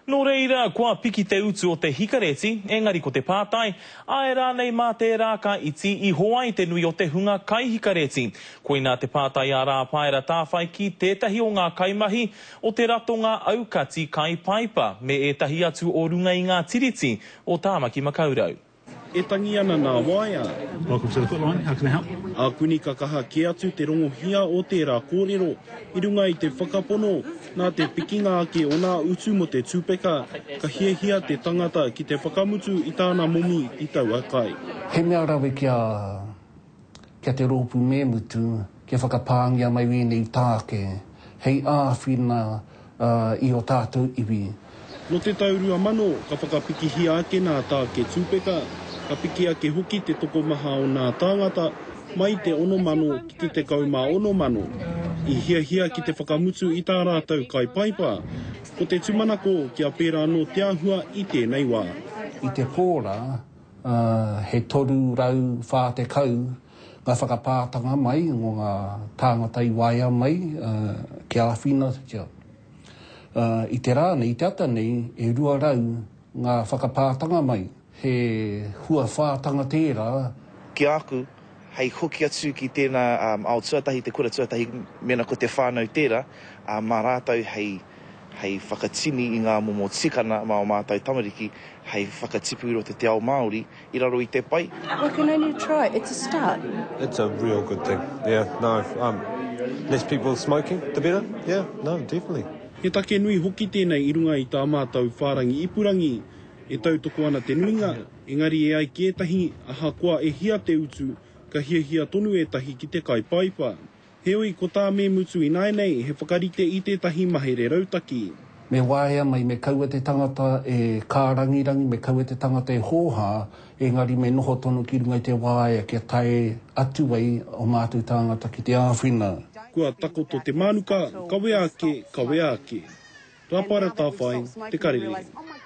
Nō reira, kua piki te utu o te hikareti, engari ko te pātai, āe rānei mā tērā ka iti iho ai te nui o te hunga kaihikareti? Koinā te pātai a Rāpaera Tāwhai ki tētahi o ngā kaimahi o te ratonga aukati Kai Paipa me ētahi atu o runga i ngā Tiriti o Tāmaki Makaurau. E tangi ana nā waea. Welcome to the foot line, how can I help? Ākuni ka kaha kē atu te rongohia o tērā kōrero i runga i te whakapono nā te pikinga ake o nā utu mō te tupeka ka hiahia te tangata ki te whakamutu i tāna momi i taua kai. He mea rawe kia. ki a te rōpū me mutu, kia whakapāngia mai ēnei tāke hei āwhina i ō tātou iwi. Nō te tau 2000, ka whakapikihia ake nā tāke tūpeka, ka piki ake hoki te tokomaha o nā tāngata, mai i te ono mano ki te tekau mā ono mano, i hiahia ki te whakamutu i tā rātou kai paipa. Ko te tumanako kia pērā anō te āhua i tēnei wā. I te pō rā, ā, he 340 ngā whakapātanga mai o ngā tāngata i waea mai kia āwhinatia. Ā, i te rā nei, i te ata nei, e 200 ngā whakapātanga mai, he huawhātanga tērā. Ki a aku, hei hoki atu ki tēnā ao tuatahi, te kura tuatahi, mēnā ko te whānau tērā, ā, mā rātou hei, hei whakatini i ngā momo tikana mā ō mātou tamariki hei whakatipu i roto i te ao Māori i raro i te pai. We can only try, it's a start. It's a real good thing, yeah, no, um, less people smoking, the better, yeah, no, definitely. He take nui hoki tēnei i runga i tā mātou whārangi ipurangi, e tautoko ana te nuinga Engari e ai ki ētahi, ahakoa e hia te utu, ka hiahia tonu ētahi ki te kai paipa. Heoi, ko tā me mutu ināianei he whakarite i tētahi mahere rautaki. Me waea mai, me kaua te tangata e kārangirangi, me kaua te tangata e hōhā, engari me noho tonu ki runga i te waea kia tae atu ai ō mātou tāngata ki te āwhina. Kua takoto te mānuka, kawea ake, kawea ake. Rāpara Tāwhai, Te Karere.